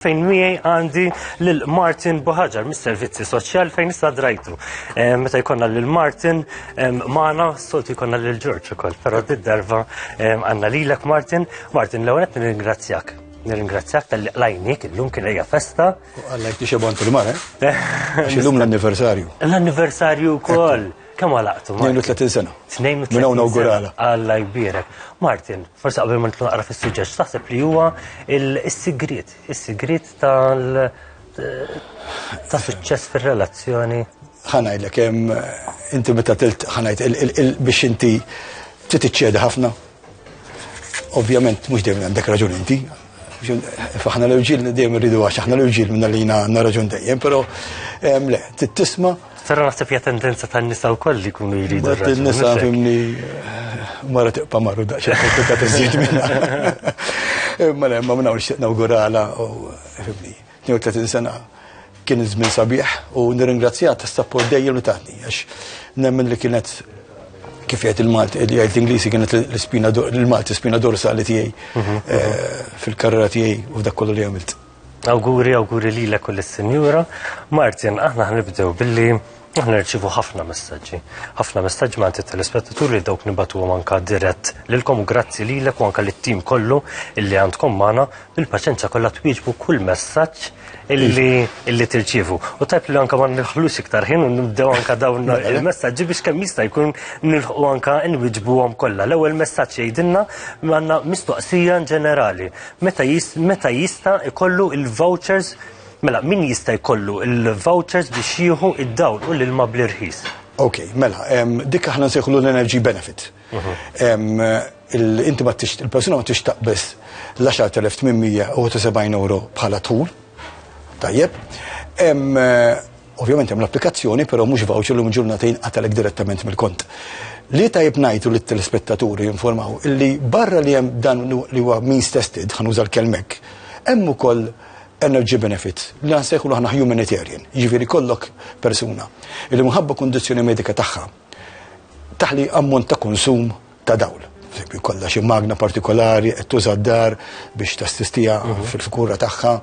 fejn miegħi għandi lil Martin Buħaġar mis-Servizzi Soċjal fejn issa drajtu. Eh, meta jkollna lil Martin eh, magħna soltu jkollna lil Ġorġ ukoll, però darba eh, għandna lilek Martin. Martin l-ewwel qed nirringrazzjak. Nirringrazzjak tal-li qlajnik illum kien hija festa. Għallek tixebon fil-mare. Illum l-anniversarju. L-anniversarju wkoll. Kemm għalaqtu? 32 sena. 32 sena. Alla jbierek. Martin, forse qabel ma naqra fis-suġġett, taħseb li huwa is-sigriet, is-sigriet tal ta' suċċess fir-relazzjoni. Ħanajlek hemm inti meta tilt ħanajt biex inti trid tiċċedi ħafna Ovvjament mhux dejjem għandek raġun inti. Faħna l-irġiel dejjem irridu għax aħna l-irġiel minna li għandna raġun dejjem, però le, tisma' Tara naħseb hija tendenza tan-nisa wkoll li jkunu jridu. Nisa fimni eh, mara tiqpa' marru daqsxejn komplikat iżjed minna. Imma le, ma nawgurala u fimni. 32 sena kien żmien sabiħ u nirringrazzjah tas-sapport dejjem li tatni għax nemmen li kienet kif jgħid il-Malti, eh, jgħid l-Inglisi kienet l-spina l-Malti spina dorsali tiegħi mhm. eh, fil-karriera tiegħi u dak kollu li għamilt. Awguri, awguri lilek u lis-Sinjura. Martin, aħna ħnibdew billi Aħna nirċivu ħafna messaġġi. Ħafna messaġġi ma' telespettaturi li dawk nibatu anka dirett lilkom grazzi lilek u anka lit-tim kollu illi għandkom magħna bil-paċenza kollha twieġbu kull messaġġ illi tirċivu. U tajb li anka ma nħlux iktar ħin u nibdew anka dawn mela, mela. il-messaġġi biex kemm jista' jkun nilħu anka nwiġbuhom kollha. L-ewwel messaġġ jgħidilna għandna mistoqsija ġenerali. Meta jista' ikollu il-vouchers Mela, min jista' jkollu l-vouchers biex jieħu id-dawl u l-ilma bl-irħis? Ok, mela, dik aħna nsejħlu l-energy benefit. Inti ma tix, il-persuna ma tix taqbess l-10,870 euro bħala tul. Tajjeb. Ovvjament hemm l-applikazzjoni, però mhux voucher li ġurnata jinqatalek direttament mill-kont. Li tajb ngħidu li t-telespettaturi jinformaw illi barra li hemm dan li huwa means tested, ħanuża l-kelmek, hemm ukoll energy benefits, li nsejħulu aħna humanitarian, jiġifieri jkollok persuna li minħabba kundizzjoni medika tagħha taħli ammont ta' konsum ta' dawl. Fekk kollha xi magna partikolari qed tuża d-dar biex tassistija mhm. fil-fikura tagħha.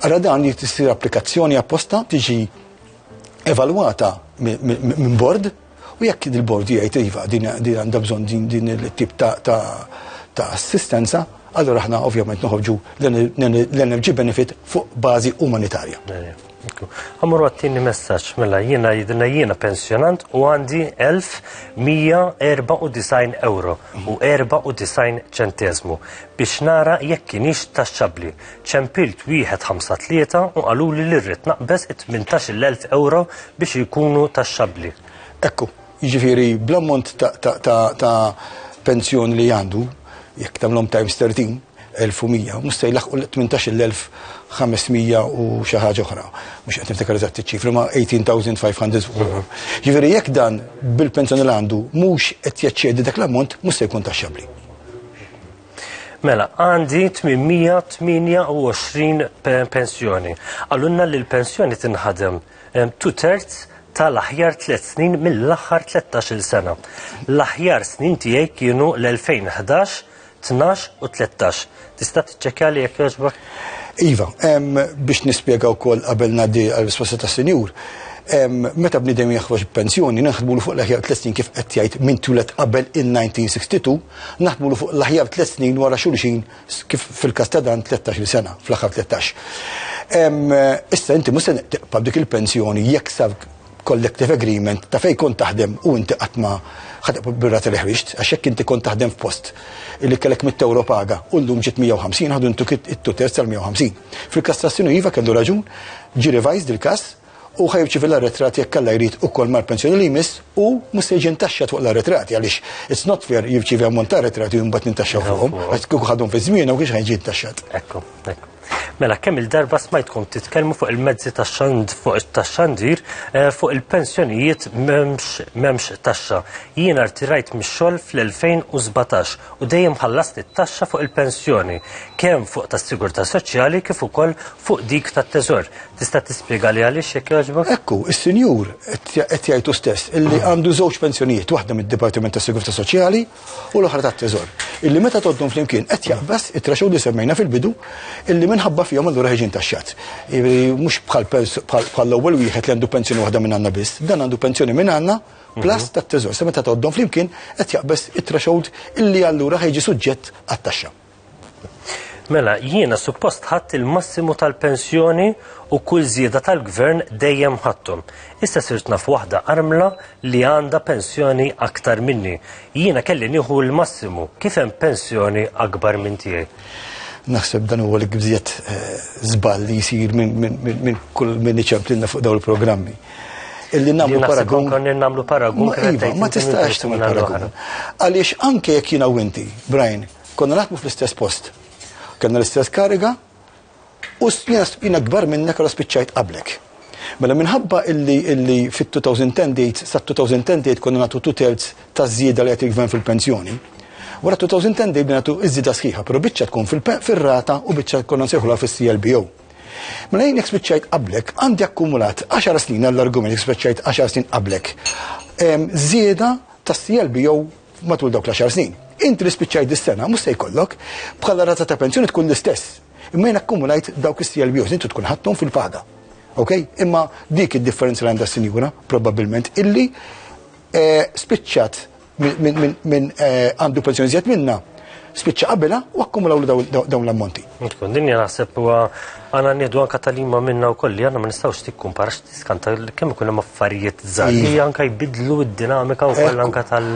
Ara dan li tisir applikazzjoni apposta tiġi evalwata minn bord U jekk il-bord jgħid iva din għandha bżonn din il-tip ta' assistenza, allura aħna ovvjament noħorġu l-energy benefit fuq bażi umanitarja. Għamur għattini messaċ, mela jina jidna jina pensjonant u għandi 1194 euro u 94 ċentezmu biex nara jekk kienix taxxabli. Ċempilt wieħed ħamsa tlieta u qaluli li rrid naqbeż it-tmintax-il elf ewro biex ikunu taxxabbli. Ekku, jiġifieri bl-ammont ta' pensjoni li għandu, jekk tagħmlhom times 13, 1100, mhux se jlaħħqu l-tmintax-il elf ħames mija u xi ħaġa oħra. Mhux qed niftakar eżatt iċ-ċifri ma' 18,500 euro. Jiġifieri jekk dan bil-pensjoni li għandu mhux qed jeċċedi dak l-ammont mhux se jkun taxxabbli. Mela, għandi 828 pensjoni. Għallunna li l-pensjoni tinħadem tu terz tal-aħjar 3 snin mill-aħħar 13 sena. L-aħjar snin tiegħi kienu l-2011, 12 u 13. Tista' tiċċekkja li jekk jogħġbok? Iva, biex nispjega wkoll qabel ngħaddi għal risposta ta' sinjur meta bnidem jaħroġ pensjoni naħdmu fuq l-aħjar 30 kif qed jgħid minn tulet qabel il-1962 Naħdmulu fuq l-aħjar tliet snin wara xulxin kif fil-każ ta' dan 13-il sena, fl-aħħar 13. Issa inti mhux se tiqpa' dik il-pensjoni jekk sar collective agreement ta' fejn kont taħdem u inti qatt ma ħatibqa' birra li ħriġt għax jekk inti kont taħdem f'post li kellek mit ewro paga u llum ġiet 150 ħadu ntuk it-tuters tal-150. Fil-kastrazzjoni iva kellu raġun, ġi revised il-każ u ħa jirċievi l-arretrat jekk Alla jrid ukoll mal-pensjoni li jmiss u mhux se jiġi ntaxxat fuq l-arretrati għaliex it's not fair jirċievi ammont ta' arretrati u mbagħad nintaxxaw fuqhom għax kieku ħadhom fi żmienhom ma kienx ħa jiġi ntaxxat. Ekku, ekku. Mela kemm il-darba smajtkom titkellmu fuq il-mezzi tax-xand fuq it-taxxandir eh, fuq il-pensjonijiet m'hemmx taxxa. Jien artirajt mix-xogħol fl-2017 u dejjem ħallast it-taxxa fuq il-pensjoni kemm fuq tas-sigurtà soċjali kif ukoll fuq dik tat-teżor. Tista' tispjega li għaliex jekk jogħġbok? Ekku, is-sinjur qed jgħid hu stess illi għandu żewġ pensjonijiet, waħda mid-Dipartiment tas-Sigurtà Soċjali u l-oħra tat-Teżor, illi meta tgħoddhom flimkien qed jaqbes it-threshold li semmejna fil-bidu illi minħabba fihom allura ħieġ intaxxat. Jiġifieri mhux bħall-ewwel wieħed li għandu pensjoni waħda minn għandna biss, dan għandu pensjoni minn għandna plus mhm. tat-Teżor. Se meta tgħoddhom flimkien qed jaqbes it-threshold illi allura ħejġi suġġett għat-taxxa. Mela, jiena suppost ħadd il-massimu tal-pensjoni u kull żieda tal-gvern dejjem ħadthom. Issa sirt naf waħda armla li għandha pensjoni aktar minni. Jiena kelli nieħu l-massimu, kif hemm pensjoni akbar minn tiegħi? Naħseb dan huwa l-ikbżiet żball li jsir minn kull min iċemplilna fuq dawn il-programmi. illi namlu paragun. Konni namlu paragun. Iva, ma tistax tamlu paragun. Għaliex anke jekk jina u inti, Brian, konna naħdmu fl-istess post. Kenna l-istess kariga u jina gbar minnek għal spiċċajt qablek. Mela minħabba illi illi fit-2010 date, sa 2010 date konna natu two thirds ta' zjida li għetik gvern fil-pensjoni. Wara 2010 date binatu iż-żida sħiħa, pero bicċa tkun fil-rata u bicċa konna nsejħula fil-CLBO. Mela jien jekk spiċċajt qablek, għandi akkumulat 10 snin għall-argument jekk spiċċajt 10 snin qablek. Żieda tas-CLB jew matul dawk l-10 snin. Inti li spiċċajt dis-sena mhux se jkollok bħala rata ta' pensjoni tkun l-istess. Imma jien akkumulajt dawk is-CLB jew tkun ħadthom fil-paga. Ok? Imma dik id-differenza li għandha s-sinjura, probabbilment, illi eh, spiċċat minn eh, għandu pensjoni zjed minna spiċċa qabilha u akkumulaw dawn l-ammonti. Tkun dinja naħseb huwa għana nieħdu anka talima minna wkoll li għandna ma nistgħux tikkumpara x'tiskanta kemm ikun hemm affarijiet żgħar li iva. anka jbidlu d-dinamika wkoll anka tal.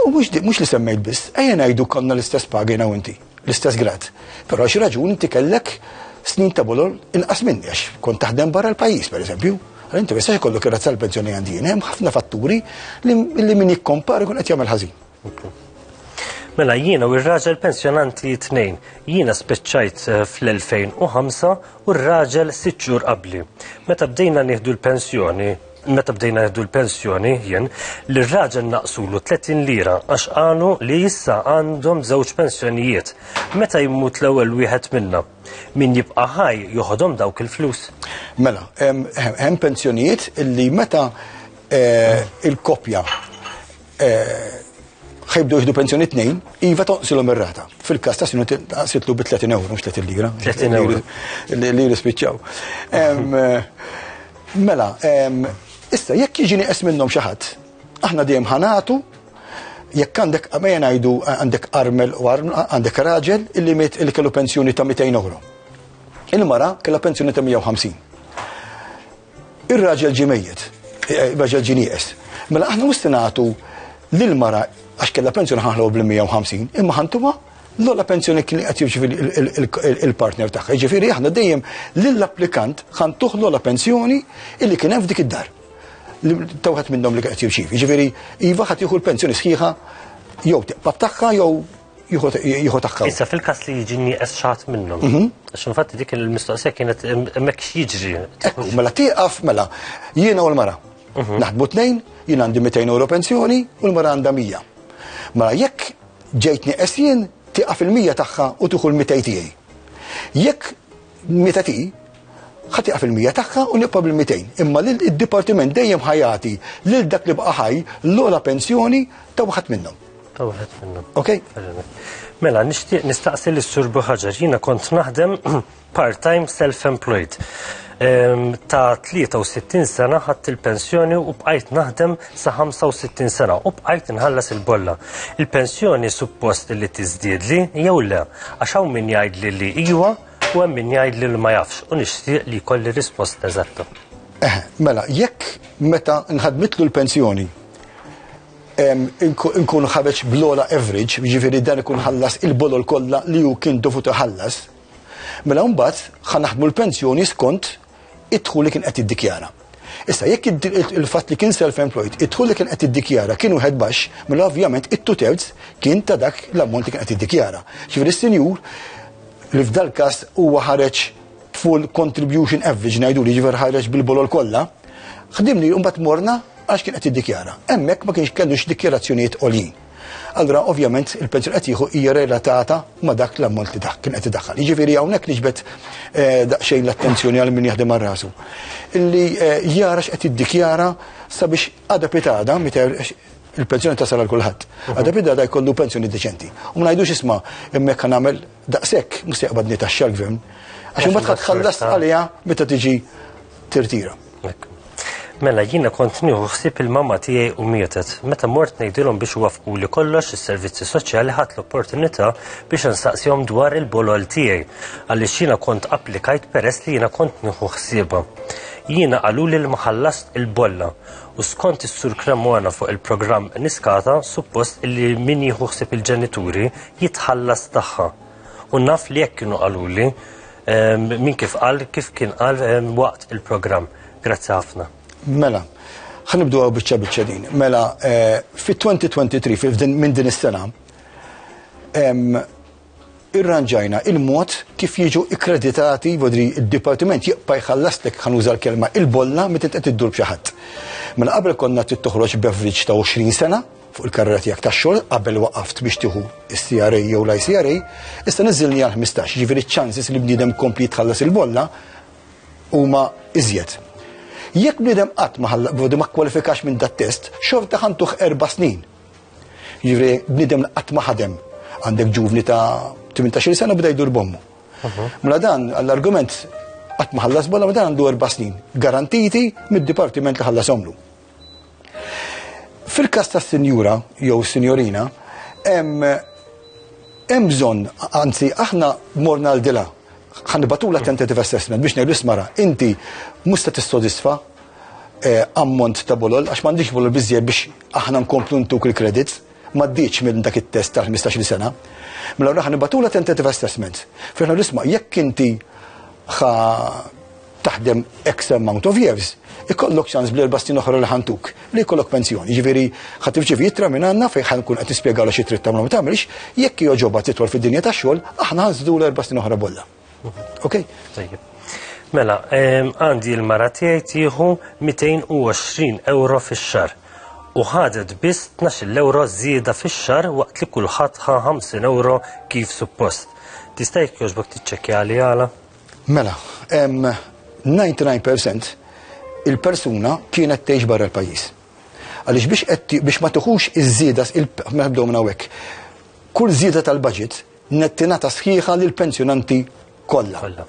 U mhux li semmejt biss, ejja ngħidu konna l-istess pagi u inti. l-istess grad. Però għal xi raġuni inti kellek snin ta' bulol inqas minni għax kont taħdem barra l-pajjiż pereżempju. Għal inti jista' jkollok ir-razza l-pensjoni għandi hemm ħafna fatturi li min jikkompar ikun qed jagħmel ħażin. Mela jiena u r-raġel pensjonanti tnejn. Jiena spiċċajt eh, fl-2005 u r-raġel sitt xhur qabli. Meta bdejna nieħdu l-pensjoni, meta bdejna jaddu l-pensjoni jien li r-raġel naqsulu 30 lira għax qalu li issa għandhom żewġ pensjonijiet. Meta jmut l-ewwel wieħed minna, min jibqa' ħaj joħodhom dawk il-flus. Mela, hemm pensjonijiet li meta eh, il-kopja ħajbdu jihdu pensjoni tnejn, iva tonqsilhom ir-rata. Fil-każ ta' sinu taqsitlu bi 30 euro, mhux 30 lira. 30 euro. Li jispiċċaw. Mela, issa jekk jiġini qes minnhom xi ħadd, aħna dejjem ħanatu jekk għandek għamejja ngħidu għandek armel u għandek raġel illi miet illi kellu pensjoni ta' 200 euro. Il-mara kellha pensjoni ta' 150. Ir-raġel ġie mejjet, ir-raġel ġie nieqes. Mela aħna mhux se nagħtu lil mara għax kellha pensjoni ħanħlu bl-150, imma ħantuha l-ola pensjoni kien qed jirċivi il-partner tagħha. Jiġifieri aħna dejjem lill-applikant ħan tuħ l-ola pensjoni illi kien hemm f'dik id-dar. Tawħat minnhom li qed jirċivi. Jiġifieri iva ħadd jieħu l-pensjoni sħiħa jew tibqa' tagħha jew jieħu tagħha. Issa fil-każ li jiġi nieqes xaħat minnhom. Mhm. Għax infatti dik il-mistoqsija kienet hemmhekk x'jiġri. Mela tieqaf mela jiena u l-mara. Mhm. Naħdmu tnejn, jien għandi 200 euro pensjoni u l-mara għandha 100. Mela jekk ġejt nieqes jien tieqaf il-100 tagħha u tieħu l-200 tiegħi. Jekk Meta ti ħadd jaqaf il-mija tagħha u nibqa' bil-200. Imma l-dipartiment dejjem ħajati lil dak li bqa' ħaj l-ogħla pensjoni ta' waħed minnhom. Ta' waħed minnhom. Ok? Mela, nixtieq nistaqsi lis sur Buħaġar, jiena kont naħdem part-time self-employed. Ehm, ta' 63 sena ħadd il-pensjoni u bqajt naħdem sa 65 sena u bqajt nħallas il-bolla. Il-pensjoni suppost li tiżdiedli jew le, għax hawn min jgħidli li iwa u hemm min jgħidli li ma jafx u nixtieq li jkolli risposta eżatta. Eh, mela, jekk meta nħadmitlu l-pensjoni nkun ħareġ blola average, ġifiri dan ikun ħallas il-bolol kollha li hu kien dovut ħallas, mela mbagħad ħanaħdmu l-pensjoni skont id-dħul li kien qed jiddikjara. Issa jekk il-fatt li kien self-employed, id-dħul li kien qed jiddikjara kien wieħed baxx, mela ovvjament it-two thirds kien ta' dak l-ammont li kien qed jiddikjara. Ġifieri s-sinjur li f'dal każ huwa ħareġ full contribution average ngħidu li ġifier ħareġ bil-bolol kollha, ħdimni mbagħad morna għax kien qed jiddikjara. Hemmhekk ma kienx kellux dikjarazzjonijiet għoljin. Allura ovvjament il-pensjoni qed jieħu hija relatata ma' dak l-ammont li dak kien qed idaħħal. Jiġifieri hawnhekk niġbed eh, daqsxejn l-attenzjoni għal min jaħdem rasu. Illi eh, jara x'qed iddikjara sabiex għada pitada il-pensjoni tasal għal kulħadd. Mhm. Għada pitada jkollu pensjoni deċenti. U ma ngħidux isma' hemmhekk kan nagħmel daqshekk mhux se jaqbadni taxxa l-gvern. Għax imbagħad tħallas għaliha meta tiġi tirtira. Mela jiena kont nieħu ħsieb il-mamma tiegħi u mietet. Meta mort ngħidilhom biex wafqu li kollox is-servizzi soċjali ħadd l-opportunità biex insaqsihom dwar il-bolol tiegħi għaliex jiena kont applikajt peress li jiena kont nieħu ħsiebha. Jiena qaluli li ma ħallast il-bolla u skont is-sur Cremona fuq il-programm Niskata suppost li min jieħu ħsieb il-ġenituri jitħallas tagħha. U naf li jekk kienu qaluli min kif qal kif kien qal waqt il-programm. Grazzi ħafna. Mela, ħanibdu għaw bieċa bieċa din. Mela, eh, fit-2023, minn din is-sena, irranġajna il-mod kif jiġu ikkreditati vodri il-Dipartiment jibqa' jħallastek ħanuża l-kelma il-bolla meta qed iddur b'xi ħadd. Minn qabel konna trid toħroġ beverage ta' 20 sena, fuq il-karriera tiegħek tax-xogħol qabel waqaft biex tieħu s-CRA jew l-ICRA, issa niżilni għal 15, jiġifieri ċ-ċansis li bniedem kompli jitħallas il-bolla huma iżjed. Jekk bniedem qatt ma ħalla ma kwalifikax minn dat-test, xorta ħantuh erba' snin. Jivri, bniedem qatt ma ħadem għandek ġuvni ta' 18 sena bda jdur bommu. Mela dan għall-argument qatt ma ħallas bolla dan għandu erba' snin, garantiti mid-dipartiment li ħallas omlu. Fil-każ ta' sinjura jew sinjorina, hemm bżonn, anzi aħna morna l dila ħanibatula tentative assessment biex ngħidu smara, inti mhux se tissodisfa eh, ammont ta' bolol għax m'għandix bolol biżjed biex aħna nkomplu ntuk il-credits maddiċ minn dak it-test tal-15 sena. Mela raħan nibatula tentative assessment. Fejna nisma' jekk inti taħdem X amount of years, ikollok ċans bl-erba' snin oħra li ħantuk li jkollok pensjoni. Ġifieri ħadd tirċievi jittra minn għandna fejn ħan nkun qed nispjegalha xi trid tagħmel ma tagħmilx, jekk jogħġobha titwal fid-dinja tax-xogħol, aħna ħanżidu l-erba' snin oħra bollha. Okej? Tajjeb. Mela, ehm, għandi l-mara tiegħi tieħu 220 euro fix-xar u ħadet biss 12 euro żieda fix-xar waqt li kulħadd ħa 50 euro kif suppost. Tista' jekk jogħġbok tiċċekkja li għala? Mela, 99 percent il-persuna kienet tgħix barra l-pajjiż. Għaliex biex qed biex ma tiħux iż-żieda mela bdew minn hawnhekk. Kull żieda tal-budget nettina ta' sħiħa lil pensjonanti kollha.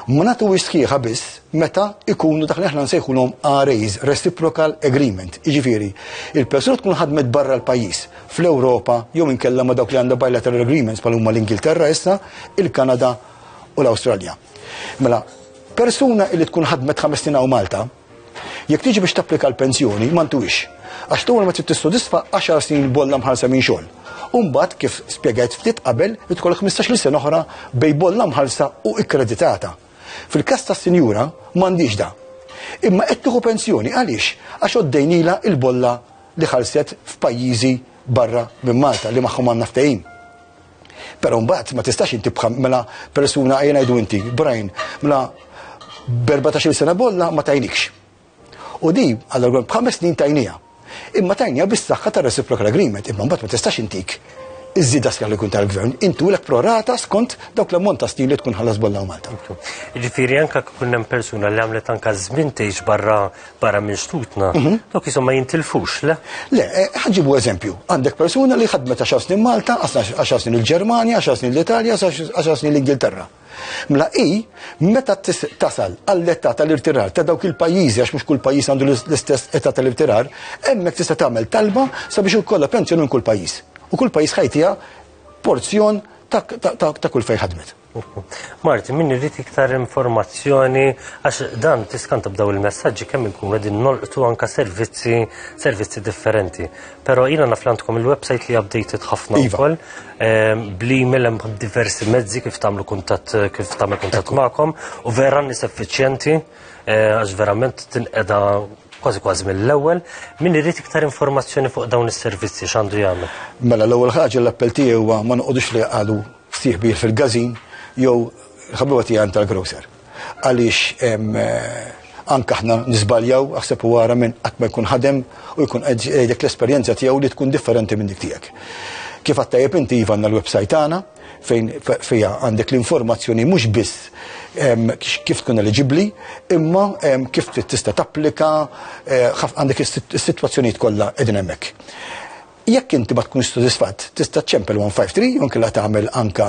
Ma natu sħiħa biss meta ikunu dak li aħna nsejħulhom RAs, Reciprocal Agreement. Jiġifieri, il-persuna tkun ħadmet barra l-pajjiż, fl-Ewropa, jew inkella ma dawk li għandha bilateral agreements bħal huma l-Ingilterra issa, il-Kanada u l-Awstralja. Mela, persuna li tkun ħadmet ħames snin hawn Malta, jekk tiġi biex tapplika l-pensjoni ma ntuwix. Għax tu ma trid tissodisfa 10 snin bolla mħalsa minn xogħol. Umbat kif spjegajt ftit qabel li tkollok 15-il sena oħra bej bolla mħalsa u ikkreditata. Fil-każ tas-sinjura m'għandix da. Imma qed tieħu pensjoni għaliex għax oddejnila il-bolla li ħalset f'pajjiżi barra minn Malta li magħhom għandna ftehim. Però mbagħad ma tistax inti bħal mela persuna ejja ngħidu inti, Brian, mela b'14 sena bolla ma tajnikx. U di, għallura b'ħames snin tajnija. Imma tajnija bis saħħa ta' reciprocal agreement, imma mbagħad ma tistax intik iż-żida skar li kun tal-gvern, intu l prorata skont dawk l-ammont ta' snin li tkun ħallas bolla u Malta. Ġifiri, anka kun hemm persuna li għamlet anka żmien tgħix barra barra minn xtutna, mhm. dok jisom ma jintilfux, le? Le, eh, ħagġibu eżempju, għandek persuna li ħadmet 10 snin Malta, 10 snin il-Germania, 10 snin l-Italja, 10 snin l-Ingilterra. Mla i, meta tasal għall-età tal-irtirar ta' dawk il-pajjiżi għax mhux kull pajjiż għandu l-istess età tal-irtirar, hemmhekk tista' tagħmel talba sabiex ukollha pensjoni minn kull pajjiż. U kull pajjiż ħajtija porzjon ta' kull fejn ħadmet. Marti, min irrit iktar informazzjoni, għax dan tiskanta b'daw il-messagġi kemm inkun għedin nolqtu anka servizzi, servizzi differenti. Pero jina naflantkom il-websajt li updated ħafna iva. ukoll, ehm, bli millem diversi mezzi kif tamlu kuntat, kif tamlu kuntat ma'kom, u vera nis effiċjenti, eh, għax verament tinqeda kważi kważi mill-ewwel, min irid iktar informazzjoni fuq dawn is-servizzi x'għandu jagħmel. Mela l-ewwel ħaġa l-appell tiegħi huwa ma noqogħdux li għadu Fsieħ kbir fil-gazin jew ħabiba tiegħi għand tal-grocer. Għaliex anke aħna nisbaljaw aħseb u għara minn qatt ma jkun ħadem u jkun qegħdek l-esperjenza tiegħu li tkun differenti minn dik tiegħek. Kif għattajib inti iva għandna l-website tagħna fejn fija għandek l-informazzjoni mhux biss kif tkun eliġibbli, imma kif tista' tapplika, eh, għandek is-sitwazzjonijiet kollha qegħdin hemmhekk. Jekk inti ma tkunx sodisfatt, tista' ċċempel 153 jew inkella tagħmel anke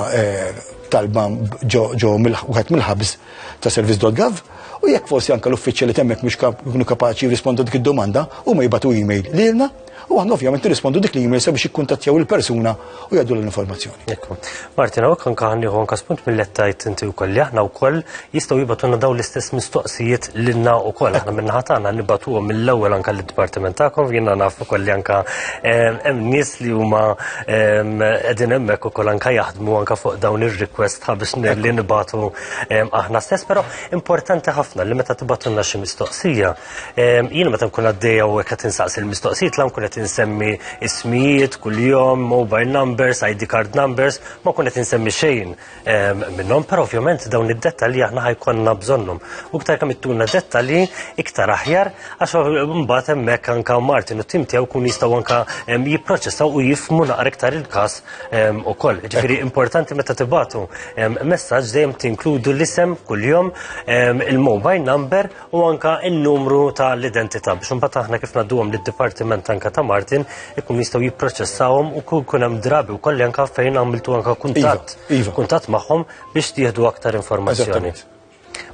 talba ġo wieħed mill-hubs ta' service.gov u jekk forsi anke l-uffiċċja li temmek mhux jkunu kapaċi jirrispondu dik id-domanda huma jibgħatu email lilna u aħna ovvjament nirrispondu dik l-email sabiex jikkuntattjaw il-persuna u jgħaddu l-informazzjoni. Martin, għawek anka għanniħu anka spunt mill-lettajt inti u koll, aħna u koll jistaw jibatuna daw l-istess mistoqsijiet l-inna u koll, aħna minna ħatana nibatu mill-ewel anka l-dipartiment ta'kom, jina naf u koll li anka hemm nis li huma edin emmek u koll anka jaħdmu anka fuq dawn il-request biex li nibatu aħna stess, pero importanti ħafna li meta tibatuna xi mistoqsija, Jiena meta nkun għaddejja u qed insaqsi l-mistoqsijiet la nkun qed insemmi ismijiet kuljum, mobile numbers, ID card numbers, ma nkun qed insemmi xejn minnhom, però ovvjament dawn id-dettalji aħna ħajkonna bżonnhom. U iktar kemm ittuna dettalji iktar aħjar għax mbagħad hemmhekk anka Martin u tim tiegħu kun jistgħu anka jipproċessaw u jifmu naqra iktar il-każ ukoll. Ġifieri importanti meta tibatu messaġġ dejjem tinkludu l-isem kuljum, il-mobile number u anka n-numru ta' l-identità biex imbagħad aħna kif ngħadduhom lid-dipartiment anka ta' Martin ikun jistgħu jipproċessawhom u kun hemm drabi wkoll anka fejn għamiltu anka kuntatt iva, iva. kuntatt magħhom biex tieħdu aktar informazzjoni.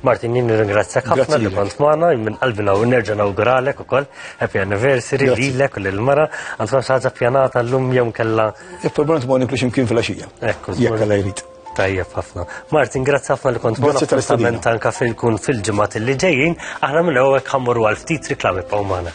Martin, jien ringrazzjak ħafna li kont magħna, minn qalbi naw nerġa' nawguralek ukoll happy anniversary lilek u lill-mara, għandkom xi ħaġa pjanata llum jew kellha. Il-programm tmoni biex imkien fil-għaxija. Ekku, jekk jrid. Tajjeb ħafna. Martin, grazzi ħafna li kont Grazzi tal-istament anka fil-kun fil-ġimgħat li ġejjin, aħna minn hawnhekk ħammur għal ftit riklami pawmana.